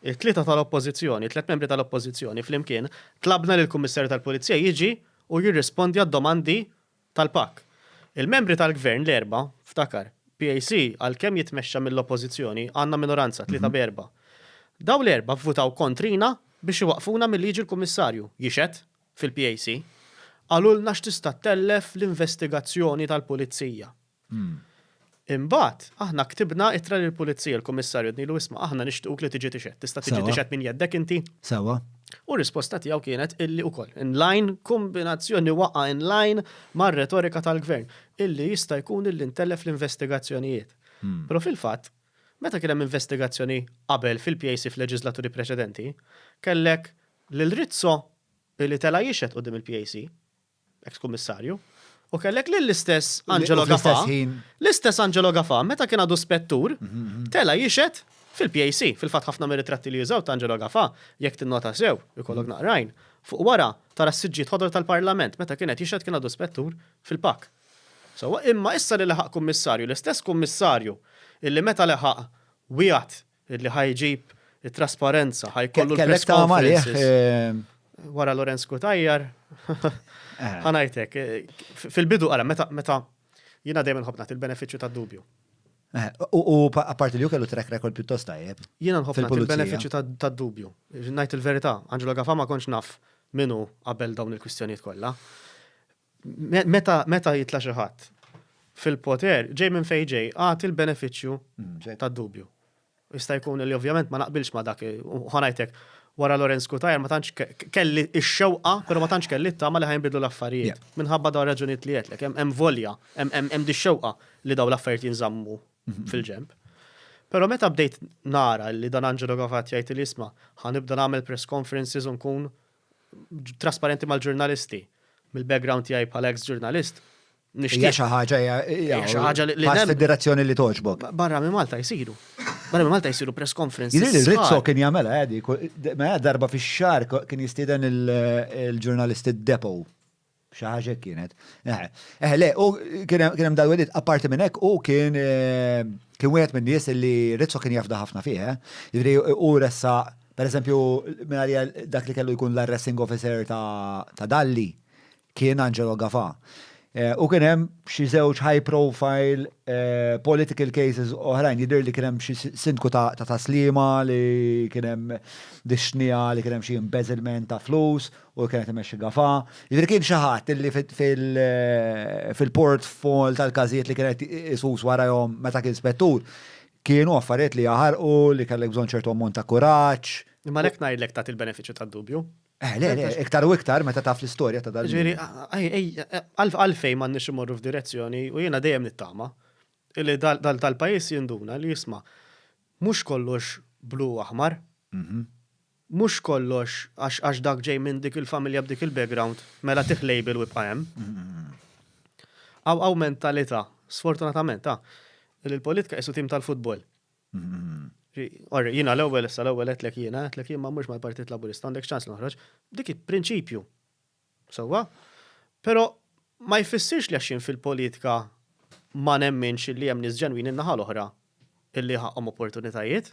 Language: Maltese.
It-tlieta tal-Oppożizzjoni, it-tliet membri tal-Oppożizzjoni flimkien, tlabna lill-Kummissarju tal-Pulizija jiġi u jirrispondi għad-domandi tal-PAK. Il-membri tal-Gvern l-erbgħa, ftakar, PAC għalkemm jitmexxa mill-Oppożizzjoni, għandna minoranza, tlieta b'erbgħa. Dawn l-erbgħa vvutaw kontrina biex iwaqqfuna milli jiġi l-Kummissarju jixhed fil-PAC. Qalulna x'tista' ttellef l-investigazzjoni tal-Pulizija. Imbagħad, aħna ktibna ittra lill-Pulizija, l-Kummissarju għednilu isma' aħna nixtiequk li tiġi tixhed, tista' tiġi tixhed minn jeddek inti? Sewwa. U r-risposta tiegħu kienet illi ukoll, in line, kombinazzjoni waqgħa in line mar-retorika tal-Gvern, illi jista' jkun illi ntellef l-investigazzjonijiet. Però fil-fatt, meta kien hemm investigazzjoni qabel fil-PAC f'leġiżlaturi preċedenti, kellek lil Rizzo illi tela' jixhed quddiem il-PAC, eks kummissarju, u kellek lill-istess Angelo Gafà, l-istess Angelo Gafà, meta kien għadu spettur, mhm, mhm. tela jixed fil-PAC, fil-fat ħafna mir-ritratti li jużaw ta' Angelo Gafà, jekk tinnota sew, ikollok mhm. naqrajn, fuq wara tara s-siġġiet ħodor tal-Parlament, meta kienet jixed kien għadu spettur fil-pak. So, imma issa li leħaq kummissarju, l-istess kummissarju illi meta leħaq wieħed Illi ħa jġib it-trasparenza, ħa jkollu l-press conferences. Wara Lorenz Kutajjar, eh. ħanajtek, fil-bidu għala, meta, meta, jina dejjem nħobnat il-beneficju ta' dubju. Eh, u apparti li ju kellu track record pjuttost tajjeb. Jiena nħobb il-beneficju ta' dubju. Najt il-verità, Angelo Gafama konx naf minu qabel dawn il-kwistjonijiet kollha. Meta jitla' xi ħadd fil-poter, ġej minn fejn ġej, agħti l-benefiċċju mm, tad-dubju. Jista' jkun li ovvjament ma naqbilx ma dak, ħanajtek, wara Lorenz Kutajer ma tantx kelli x-xewqa, però ma tantx kelli t-tama li ħajnbidlu l-affarijiet. Minħabba dawn raġunijiet li għedlek, hemm volja, hemm di xewqa li dawn l-affarijiet jinżammu mhm. fil-ġemp. Pero meta bdejt nara li dan Angelo Gavat jgħid li jisma' ħanibda nagħmel press conferences u nkun trasparenti mal-ġurnalisti. Mill-background tiegħi bħala ex ġurnalist, nixtieq xi ħaġa hija xi ħaġa li pass fid-direzzjoni li toġbok. Barra minn Malta jsiru. Barra minn Malta jsiru press conference. Rizzo kien jagħmela għadi, ma darba fix-xahar kien jistieden il-ġurnalisti d-depo. Xi ħaġa hekk kienet. Eħe, eħe, le, u kien hemm dal-wedid, apparti minn hekk, u kien kien wieħed minn nies li Rizzo kien jafda ħafna fih, eh? Jiġri u ressa, per eżempju, minarja dak li kellu jkun l-arresting officer ta' Dalli kien Angelo Gafa. Eh, u kien hemm xi żewġ high profile eh, political cases oħrajn, jidher li kien hemm xi sindku ta' taslima li kien hemm dixnija li kien hemm xi embezzlement ta' flus u li kienet imexxi Gafà. Jiġifieri kien xi ħadd illi fil-portfol tal-każijiet li kienet isus warajhom meta kien spettur, kienu affarijiet li jaħarqu, li kellek bżonn ċertu ammont ta' kuraġġ. Imma għalhekk ngħidlek tagħti l-benefiċċju tad-dubju. Eh, le, le, iktar u iktar meta taf l-istorja ta' dal-. Ġifieri, għalfejn m'għandniex immorru f'direzzjoni u jiena dejjem nittama li dal-pajjiż jinduna li jisma' mhux kollox blu u aħmar. Mhux kollox għax għax dak ġej minn dik il-familja b'dik il-background, mela tih label u ibqa' hemm. Hawn hawn mentalità, sfortunatament, ta' li l-politika qisu tim tal-futbol. Orri, jiena l-ewwel issa l-ewwel għedtlek jiena, għedtlek jien ma mmurx mal-Partit Laburista, għandek ċans li noħroġ. Dik hi prinċipju. Sewwa? Però ma jfissirx li għax jien fil-politika ma nemminx li hemm nies ġenwini n-naħa l-oħra illi ħaqqhom opportunitajiet.